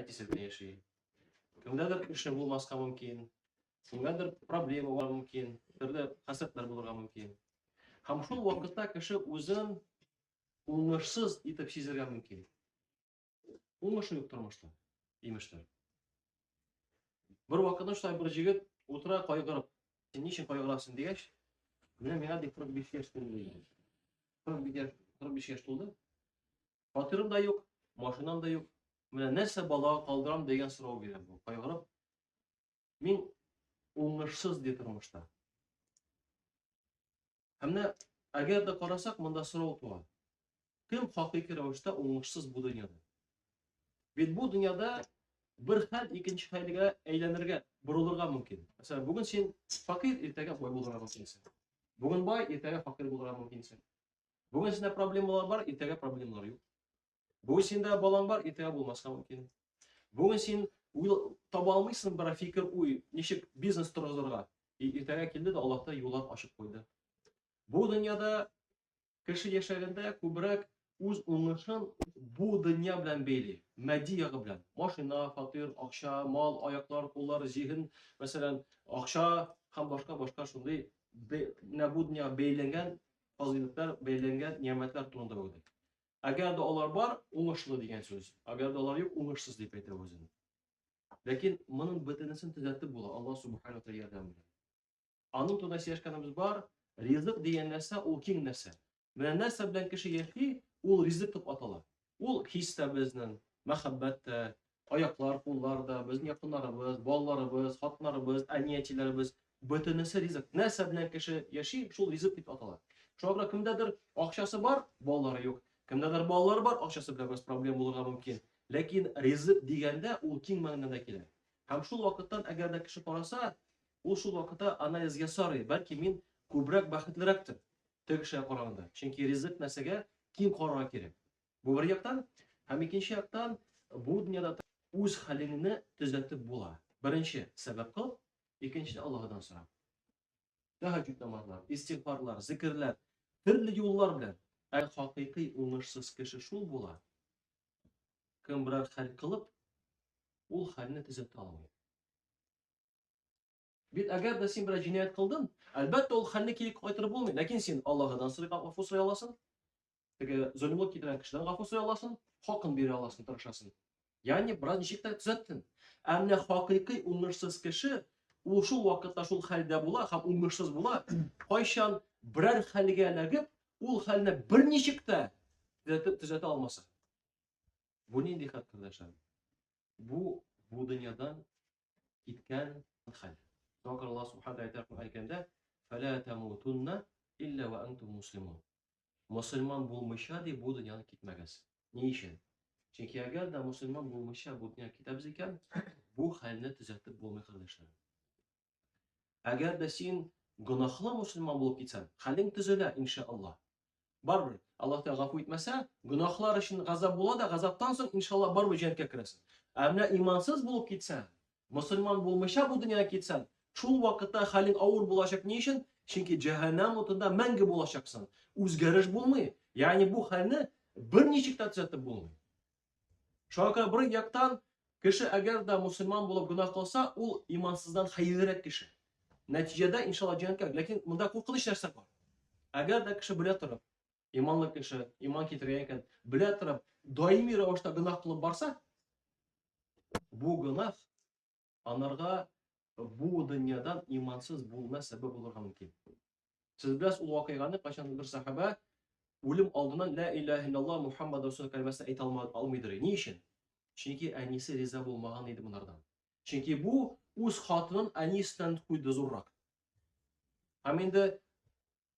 әтисе белән яши. Кемдәдер эше булмаска мөмкин, кемгәдер проблемалар мөмкин, төрле хәсрәтләр булырга мөмкин. Һәм шул вакытта кеше үзен уңышсыз итеп сизергә мөмкин. Уңышы юк тормышта, имештер. Бер вакытта шулай бер җегет утыра кайгырып, син ничек кайгырасың дигәч, менә миңа дип 45 яшь тулды. 45 яшь, 45 яшь тулды. Фатирым да юк, машинам да юк. Менә нәрсә балага калдырам дигән сорау бирә бу. Кайгырып, мин уңышсыз ди тормышта. Һәм менә әгәр дә карасак, монда сорау туа. Кем хакыйкый рәвештә уңышсыз бу дөньяда? Бит бу дөньяда бер хәл икенче хәлгә әйләнергә, борылырга мөмкин. Мәсәлән, бүген син факир, иртәгә бай булырга мөмкинсең. Бүген бай, иртәгә факир булырга мөмкинсең. Бүген синдә проблемалар бар, иртәгә проблемалар юк. Бүген синдә балаң бар, иртәгә булмаска мөмкин. Бүген син таба алмыйсың бер фикер уй, ничек бизнес торгызырга. Иртәгә килде дә Аллаһ та юллар ачып куйды. Бу дөньяда кеше яшәгәндә күбрәк үз уңышын бу дөнья белән бәйли, матди ягы белән. Машина, фатир, акча, мал, аяклар, куллар, зиһен, мәсәлән, акча һәм башка башка шундый менә бу дөньяга бәйләнгән фазыйләтләр бәйләнгән нигъмәтләр турында уйлый. Әгәр дә алар бар, уңышлы дигән сүз. Әгәр дә алар юк, уңышсыз дип әйтә үзен. Ләкин моның бөтенесен төзәтеп була Аллаһ субхана тәгалә ярдәме белән. Аның турында сөйләшкәнебез бар, ризык дигән нәрсә ул киң нәрсә. Менә нәрсә белән кеше яши, ул ризык дип атала. Ул хис тә безнең, мәхәббәт тә, аяклар, куллар да, безнең якыннарыбыз, балаларыбыз, хатыннарыбыз, әни-әтиләребез, бөтенесе ризык. Нәрсә белән кеше яши, шул ризык дип атала. Шуңа күрә кемдәдер акчасы бар, балалары юк. Кемдәдер балалары бар, акчасы белән бераз проблем булырга мөмкин. Ләкин ризык дигәндә ул киң мәгънәдә килә. Һәм шул вакыттан әгәр дә кеше караса, ул шул вакытта анализ ясарый, бәлки мин күбрәк бәхетлерәктер. теге кешегә караганда. Чөнки ризык нәрсәгә киң карарга кирәк. Бу бер яктан, һәм икенче яктан, бу дөньяда үз хәлеңне төзәтеп була. Беренче сәбәп кыл, икенче Аллаһыдан сора. Тәһәҗҗүд намазлар, истигъфарлар, зикерләр, төрле юллар белән. Ә хакыйкый уңышсыз кеше шул була. Кем берәр хәл кылып, ул хәлне төзәтә алмый. Бит әгәр дә син берәр җинаять кылдың, әлбәттә ул хәлне кире кайтарып булмый, ләкин син Аллаһыдан сорый гафу сорый аласың. Теге зөлмлек китерә кешедән гафу сорый аласың, хакын бирә аласың, тырышасың. Ягъни бераз ничек тә төзәттең. Ә менә хакыйкый уңышсыз кеше ул шул вакытта шул хәлдә була һәм уңышсыз була. Кайчан берәр хәлгә эләгеп, ул хәлне берничек тә төзәтә алмаса. Бу нинди хәл, кардәшләр? Бу бу дөньядан киткән хәл. Шуңа күрә Аллаһ Субхану әйтә Коръән Кәримдә: "Фәлә тамутунна илля ва антум муслимун". Мусульман булмыйча ди бу дөньяны китмәгез. Ни өчен? Чөнки әгәр дә мусульман булмыйча бу дөнья китәбез икән, бу хәлне төзәтеп булмый, кардәшләр. Әгәр дә син гөнаһлы мусульман булып китсәң, хәлең төзелә, иншаллаһ. Барбер, Аллаһ Тәгалә гафу итмәсә, гөнаһлар өчен газап була да, газаптан соң иншалла барбер җәннәткә керәсең. Ә менә имансыз булып китсәң, мусульман булмыйча бу дөньяга китсәң, шул вакытта хәлең авыр булачак ни өчен? Чөнки җәһәннәм утында мәңге булачаксың. Үзгәреш булмый. Ягъни бу хәлне берничек тә төзәтеп булмый. Шуңа күрә бер яктан кеше әгәр дә мусульман булып гөнаһ кылса, ул имансыздан хәерлерәк кеше. Нәтиҗәдә иншалла җәннәткә. Ләкин монда куркыныч нәрсә бар. Әгәр дә кеше белә торып, иманлы кеше, иман китергән икән, белә торып, даими рәвештә гөнаһ кылып барса, бу гөнаһ Анарга бу дөньядан имансыз булуына сәбәп булырга мөмкин. Сез беләсез ул вакыйганы, кайчан бер сахаба үлем алдыннан ла илаһа иллаллаһ Мухаммад расул кәлимәсен әйтә алмыйдыр. Ни өчен? Чөнки әнисе риза булмаган иде монардан. Чөнки бу үз хатынын әнисеннән куйды зуррак. Һәм инде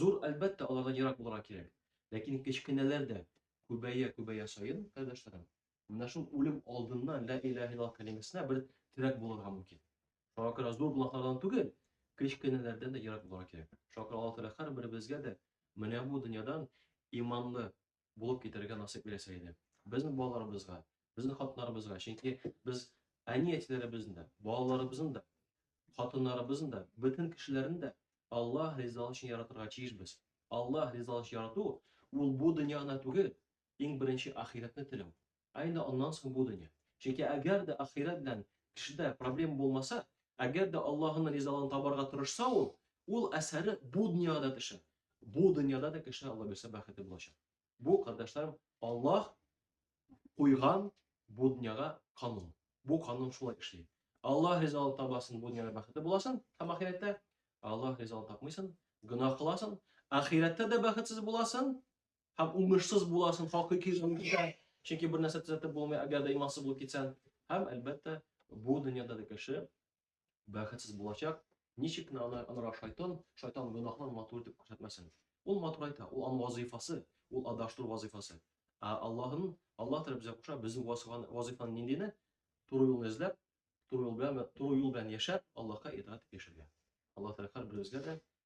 Зур, әлбәттә, алардан ерак булырга кирәк. Ләкин кечкенәләр дә күбәя-күбәя саен, кардәшләрем, менә шул үлем алдыннан лә иләһә иллаллаһ кәлимәсенә бер терәк булырга мөмкин. Шуңа күрә зур гөнаһлардан түгел, кечкенәләрдән дә ерак булырга кирәк. Шуңа күрә Аллаһ Тәгалә һәрберебезгә дә менә бу дөньядан иманлы, булып китәргә насыйп итсә иде. Безнең балаларыбызга, безнең хатыннарыбызга, чөнки без әни-әтиләребезнең дә, балаларыбызның да, хатыннарыбызның да, бөтен кешеләрне дә Аллаһ ризалыгы өчен яратырга тиешбез. Аллаһ ризалыгы өчен ярату ул бу дөньяны түгел, иң беренче ахирәтне теләү. Ә инде аннан соң бу дөнья. Чөнки әгәр дә ахирәт белән кешедә проблема булмаса, әгәр дә Аллаһының ризалыгын табарга тырышса ул, ул әсәре бу дөньяга да төшә. Бу дөньяда да кешенең Алла бирсә бәхете булачак. Бу, кардәшләрем, Аллаһ куйган бу дөньяга канун. Бу канун шулай эшли. Аллаһ ризалыгын табасын, бу дөньяда бәхете буласын, һәм ахирәттә Аллаһ ризалыгын тапмыйсын, гөнаһ кыласын, ахирәттә дә бәхетсез буласын, һәм уңышсыз буласың, хакыйкый рәвештә, чөнки бер нәрсә төзәтеп булмый, әгәр дә имансыз булып китсәң. Һәм, әлбәттә, бу дөньяда да кеше бәхетсез булачак. Ничек кенә аны анырак шайтан, шайтан гөнаһын матур итеп күрсәтмәсен. Ул матур әйтә, ул аның вазыйфасы, ул адаштыру вазыйфасы. Ә Аллаһын, Аллаһ Тәгалә безгә куша, безнең вазыйфаны ниндине? Туры юлны эзләп, туры юл белән, туры юл белән яшәп, Аллаһка итаат яшәргә. Аллаһ Тәгалә һәрберебезгә дә